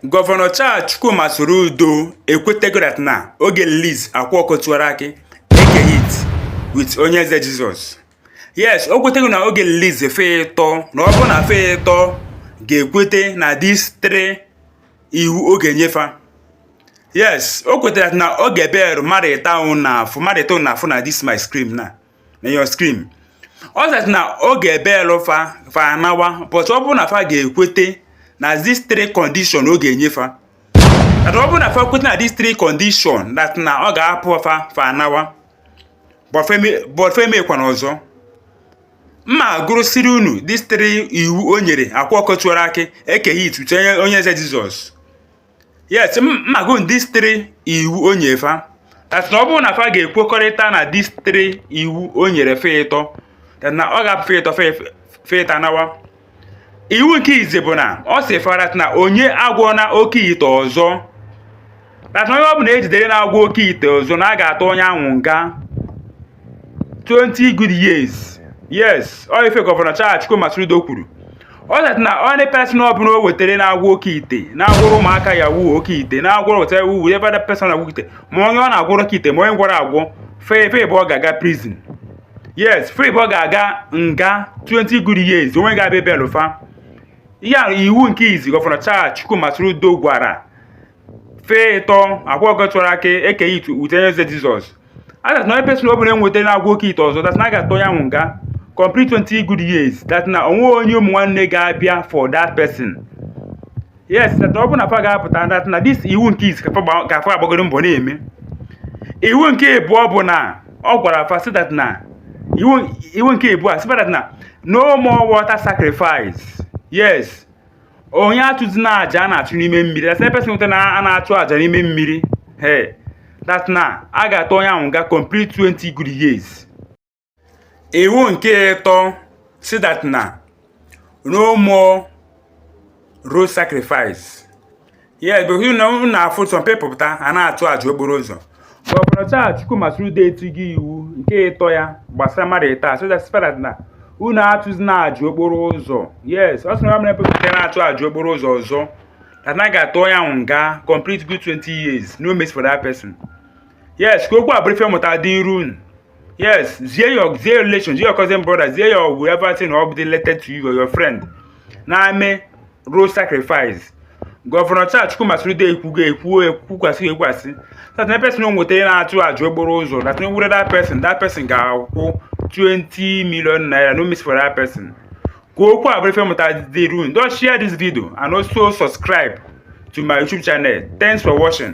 Gọvanọ Charles Chukwuma Soludo ekwetego that na ọ ga-release Akwa Ọkụkọ Tiwara Akị Eke Hit with onye eze Jizọs yes o kwetego na ọ ga-release fa ịtọ na ọ bụrụ na fa ịtọ ga-ekwete na these three iwu ọ ga-enye fa yes o kwetara na ọ ga-eberu mmadụ ịtọ a na-afụ mmadụ ịtọ a na-afụ na this my screen na na your screen ọ sị na ọ ga-ebelụ fa fa anawa but ọ bụrụ na fa ga-ekwete na these three condition ọ ga-enye fa that ọ bụrụ na fa kwete na these three condition that na ọ ga-apụ fa fa anawa but fa emekwana ọzọ m ma-agụrụsịrị unu these three iwu o nyere Akwa Ọkụkọ Tiwara Akị Eke Hit with Onye Eze Jizọs yes m ma-agụ these three iwu o nye fa that na ọ bụrụ na fa ga-ekwekọrịta na these three iwu o nyere fa ịtọ that na ọ ga-apụ fa ịtọ fa efe- fa ịtọ anawa iwu nke izi bụ na ọ sị fa that na onye agwọna oke ite ọzọ that na onye ọ bụla ejidere na-agwọ oke ite ọzọ na a ga-atụ onye ahụ nga 20 good years yes ọ ife gọvanọ Charles Chukwuma Soludo kwuru ọ sịrị na any person ọbụla o wetara na-agwọ oke ite na-agwọrọ ụmụaka yahoo oke ite na-agwọrọ wetara wuo ebe that person agwọ ite ma onye ọ na-agwọrọ oke ite ma onye gwọrọ agwọ fa fa ịbụọ ga-aga prison yes fa ịbụọ ga-aga nga 20 good years o nwe ga-abịa ebelụ fa ya iwu nke izi gọvanọ Charles Chukwuma Soludo gwara fa ịtọ Akwa Ọkụkọ Tiwara Akị Eke Hit with Onye Eze Jizọs that na any person ọbụla e nweta na-agwọ oke ite ọzọ that na a ga-atụ ya nwụ nga complete 20 good years that na o nwe onye ụmụ nwanne ga-abịa for that person yes that ọ bụrụ na fa ga-apụta that na this iwu nke izi ka fa agbagoro mbọ na-eme iwu nke ịbụọ bụ na ọ gwara fa sị that na iwu nke ịbụọ sị that na no more water sacrifice yes onye achụzina aja a na-achụ n'ime mmiri yes person nweta na a na-achụ aja n'ime mmiri he that na a ga-atụ onye ahụ nga complete 20 good years iwu nke ịtọ sị that na no more road sacrifice ya gosi na unu na-afụ some people pụta a na-achụ aja okporo ụzọ gọvanọ Charles Chukwuma Soludo etigo iwu nke ịtọ ya gbasara mmadụ ịtọ ahụ that spell that na unu achụzina aja okporo ụzọ yes ọ sị na mere people pụta na-achụ aja okporo ụzọ ọzọ that na ga-atụ ya nwụ nga complete good 20 years no mercy for that person yes ka okwu a bụrụ ife mmụta dịịrị unu Yes, zie your relation, zie your cousin brother, zie your whoever thing or be related to you or your friend na-eme road sacrifice. Gọvanọ Charles Chukwuma Soludo ekwugo ekwuo ekwukwasị ekwukwasị that na person o nwetara na-atụ aja okporo ụzọ that na were that person that person ga-akwụ 20 million naira no mercy for that person ka okwu a bụrụ ife mmụta dịrị unu just share this video and also subscribe to my youtube channel thanks for watching